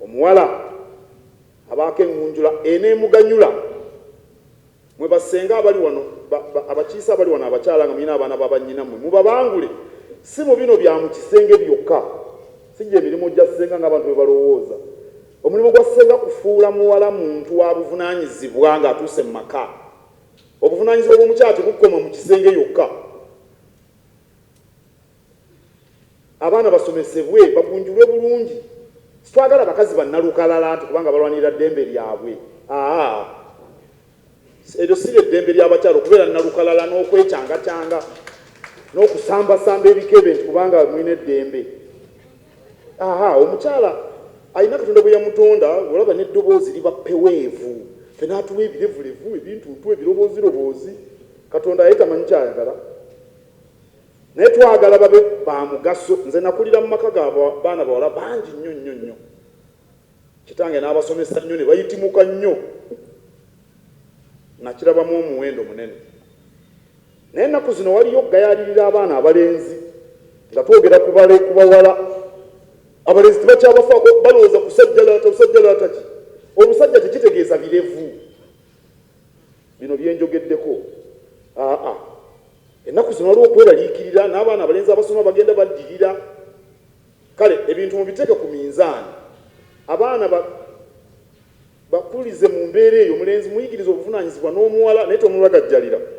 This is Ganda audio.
Omuwala abaako eŋŋunjula eneemuganyula? Mmwe bassenga abali wano, ba, ba, abakiise abali wano, abakyala nga mulina abaana ba bannyinammwe, mubabangule, si mu bino bya mu kisenge byokka. Si gye mirimu gya ssenga ng'abantu bwe balowooza. Omulimu gwa ssenga kufuula muwala muntu wa buvunaanyizibwa ng'atuuse mu maka. Obuvunaanyizibwa bw'omukyala tebukoma mu kisenge yokka. Abaana basomesebwe bagunjulwe bulungi sitwagala bakazi bannalukalala nti kubanga balwanirira ddembe lyabwe aa eryo si lye ddembe ly'abakyala okubeera nnalukalala n'okwecangacaanga n'okusambasamba ebikebe nti kubanga mulina eddembe aa omukyala alina Katonda bwe yamutonda olaba n'eddoboozi liba ppeweevu ffe n'atuwa ebirevulevu ebintuntu ebirobooziroboozi Katonda ye tamanyi kyayagala. Naye twagala babe ba mugaso. Nze nakulira mu maka ga baana bawala bangi nnyo nnyo nnyo. Kitange n'abasomesa nnyo ne bayitimuka nnyo. Nakirabamu omuwendo munene. Naye ennaku zino waliyo okugayaalirira abaana abalenzi nga twogera ku bawala. Abalenzi tebakyabafaako, balowooza kusajjalaata busajjalaata ki? Obusajja tekitegeeza birevu bino bye njogeddeko, aa. Ennaku zino waliwo okweraliikirira n'abaana abalenzi abasoma bagenda baddirira. Kale ebintu mubiteeke ku minzaani abaana ba bakulize mu mbeera eyo. Omulenzi muyigirize obuvunaanyizibwa n'omuwala naye tomulagajjalira.